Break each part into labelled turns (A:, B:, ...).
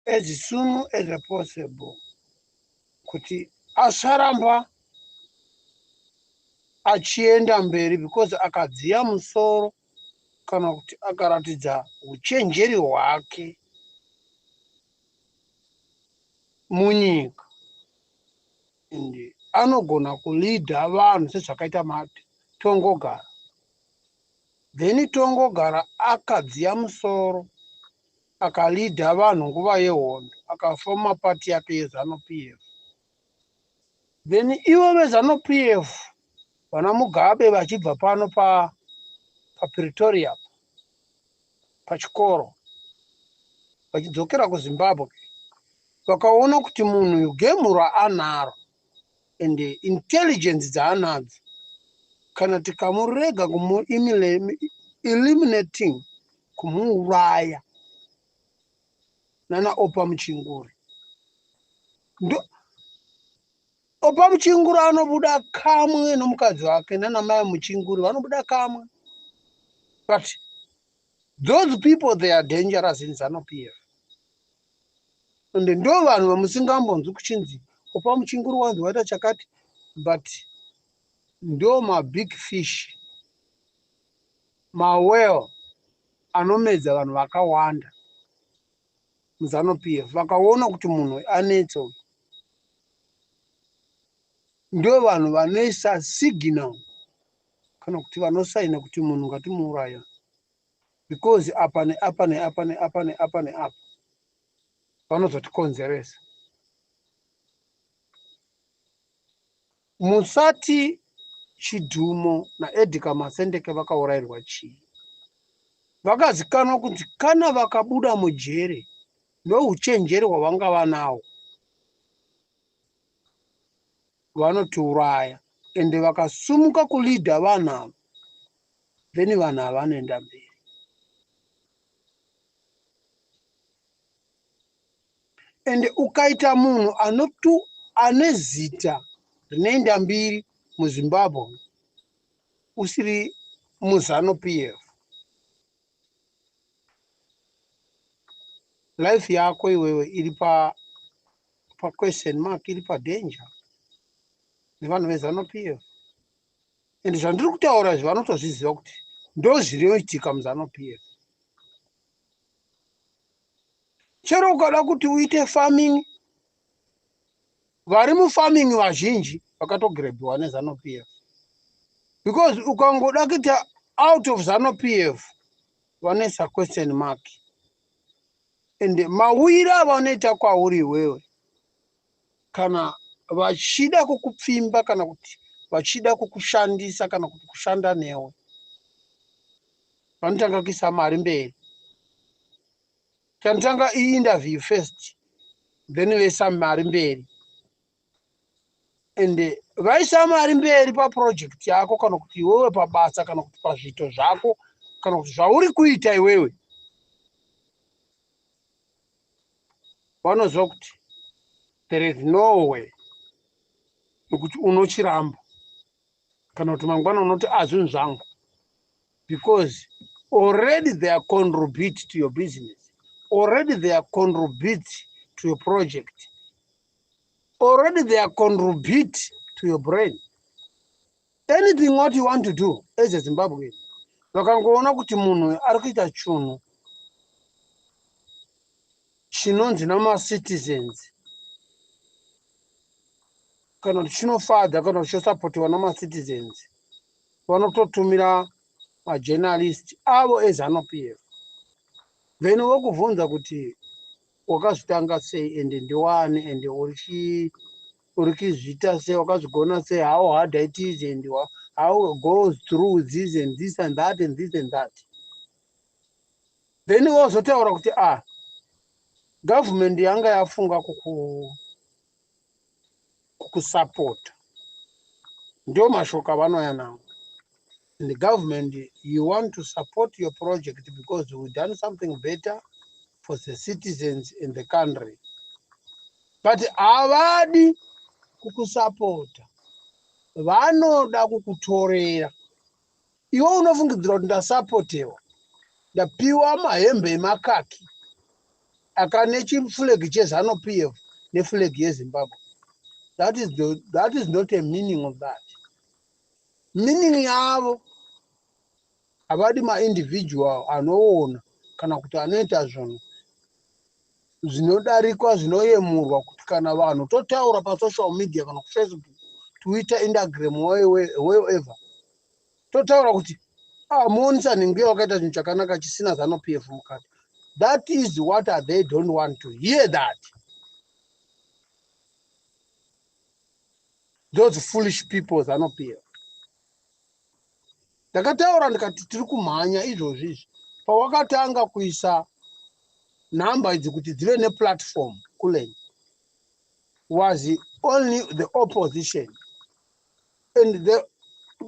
A: as soon as possible kuti asaramba achienda mberi because akadziya musoro kana kuti akaratidza uchenjeri hwake munyika and anogona kuleader vanhu sezvakaita mati tongogara then tongogara akadziya musoro Akaleader vanhu nguva yehondo akafoma party yake yezanu PF then ivo vezanu PF vana Mugabe vachibva pano pa paPretoria pachikoro vachidzokera kuZimbabwe vakaona kuti munhu uyu game raanaro and intelligence dzaanadzo kana tikamurega kumueliminating kumuuraya nana opa muchinguri ndo opa muchinguri anobuda kamwe nomukadzi wake nana mai muchinguri vanobuda kamwe but those people they are dangerous in zanupf and ndo vanhu vamusingambonzwi kuchinzi opa muchinguru wanzi waita chakati but ndo mabig fish mawell anomedza vanhu vakawanda muzano p f vakaona kuti munhu anetsa uyu ndo vanhu vanoisa signal kana kuti vanosaina kuti munhu ngatimuuraya because apa neapa neapa neapa neapa neapa vanozotikonzeresa musati chidhumo naedika masendeke vakaurairwa chii vakazikanwa kunzi kana vakabuda mujere nouchenjeri hwavanga vanawo vanotiuraya ende vakasumuka kuleader vanhu ava then vanhu ava vanoenda mberi ende ukaita munhu anotu ane zita rinoenda mbiri muzimbabwe usiri muzano p f life yako iwewe iri pa pa question mark iri pa danger nevanhu vezano pf and zvandiri kutaura izvi vanotozviziva kuti ndo zvinoitika muzano pf chero ukada kuti uite farming vari mufarming vazhinji vakatogrebhiwa nezano pf because ukangoda kuita out of zano pf vanesa question mark ende mauire avanoita kwauri iwewe kana vachida kukupfimba kana kuti vachida kukushandisa kana kuti kushanda newe vanotanga kuisa mari mberi tanotanga iinterview first then voisa mari mberi and vaisa mari mberi paproject yako kana kuti iwewe pabasa kana kuti pazviito zvako kana kuti zvauri kuita iwewe vanoziva kuti there is no way yokuti unochiramba kana kuti mangwana unoti azvinhu zvangu because already they are contribute to your business already they are contribute to your project already they are contribute to your brain anything what you want to do as a zimbabwean vakangoona kuti munhu uyu ari kuita chunhu chinonzi namacitizens kana kuti chinofadza kana kuti chosapotiwa namacitizens vanototumira majournalist avo ezanupf then vokubvunza kuti wakazvitanga sei and ndiwani and urichi urikizviita sei wakazvigona sei how hard it is and how goes through this and this and that and this and that then wozotaura kuti ah government yanga yafunga kuku kukusapota ndiwo mashoko avanouya nawo and the government you want to support your project because we done something better for the citizens in the country but havadi kukusapota vanoda kukutorera Iwe unofungidzira kuti ndasapotewa ndapiwa mahembe emakaki akane chifulegi chezanu p f nefulegi yezimbabwe that is, the, that is not a meaning of that meaning yavo havadi maindividual anoona kana kuti anoita zvinhu zvinodarikwa zvinoyemurwa kuti kana vanhu totaura pasocial media kana kufacebook twitter indagram wherever totaura kuti ah, monisa nhinguya wakaita chinhu chakanaka chisina zano p f mukati that is what are they don't want to hear that those foolish people zano p f ndakataura ndikati tiri kumhanya izvozvi izvi pawakatanga kuisa nhamba idzi kuti dzive neplatform kulen was only the opposition and the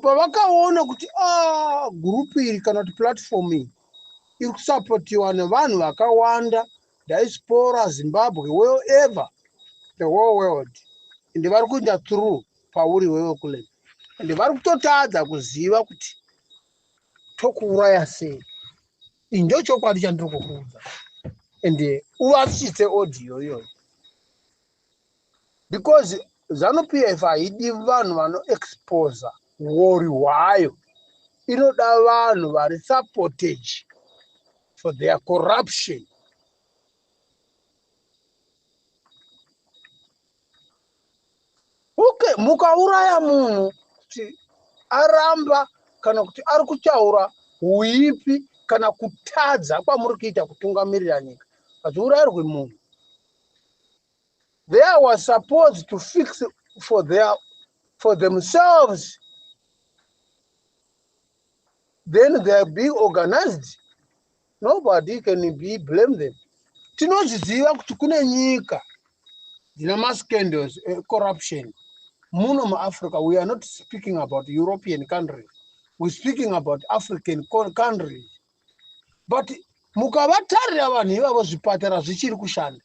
A: pavakaona kuti ah, group iri kana kuti platform iyi iri kusapotiwa nevanhu vakawanda diaspora zimbabwe well ever the whole world and vari kuenda through pauri wewe kule and vari kutotadza kuziva kuti tokuuraya sei indio chokwadi chandiri kukuudza and uvatsitse audio iyoyo because zanu pf haidi vanhu vano exposa wori hwayo inoda vanhu vari supportage for their corruption okay mukauraya munhu kuti aramba kana kuti ari kutaura uipi kana kutadza kwamuri kuita kutungamirira nyika hadziurayirwi munhu There was supposed to fix for their for themselves then they're being organized nobody can be blame them tinozviziva kuti kune nyika dzina mascandals ecorruption muno muafrica we are not speaking about european countries we speaking about african countries but mukavatarira vanhu ivavo zvipatara zvichiri kushanda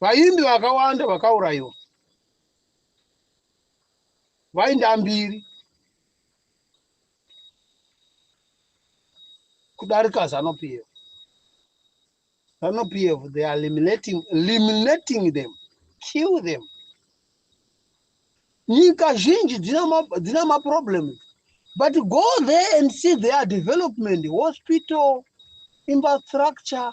A: Vaimbi vakawanda vakaurayiwa vainda mbiri kudarika Zanu PF. Zanu PF, they are eliminating, eliminating them, kill them. Nyika zhinji dzina maproblems, but go there and see their development, hospital, infrastructure,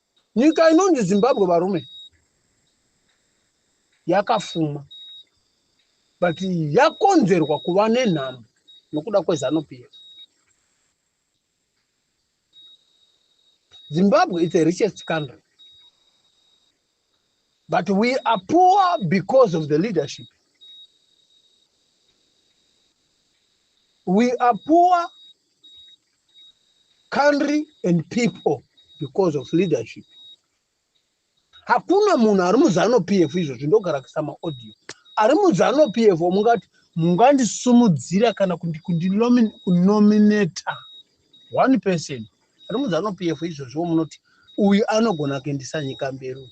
A: Nyika inonzi Zimbabwe varume yakafuma but yakonzerwa kuva nenhamo nokuda kwezanu PF. Zimbabwe is a richest country but we are poor because of the leadership. We are poor country and people because of leadership hakuna munhu ari muzano p f izvozvi ndogara kuisa maaudio ari muzano p f omungati mungandisumudzira kana kundinominata one person ari muzano p f izvozviwo munoti uyu anogona kuendesa nyika mberi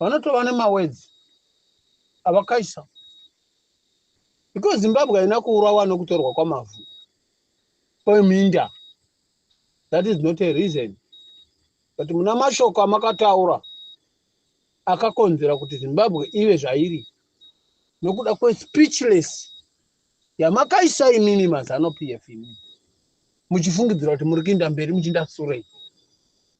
A: vanotova nemawords avakaisa because zimbabwe haina kuurawa nokutorwa kwamavhu kweminda that is not a reason but muna mashoko amakataura akakonzera kuti zimbabwe ive zvairi nokuda kwespeechless yamakaisa imimi mazano pf imimi muchifungidzira kuti muri kuinda mberi muchiinda surei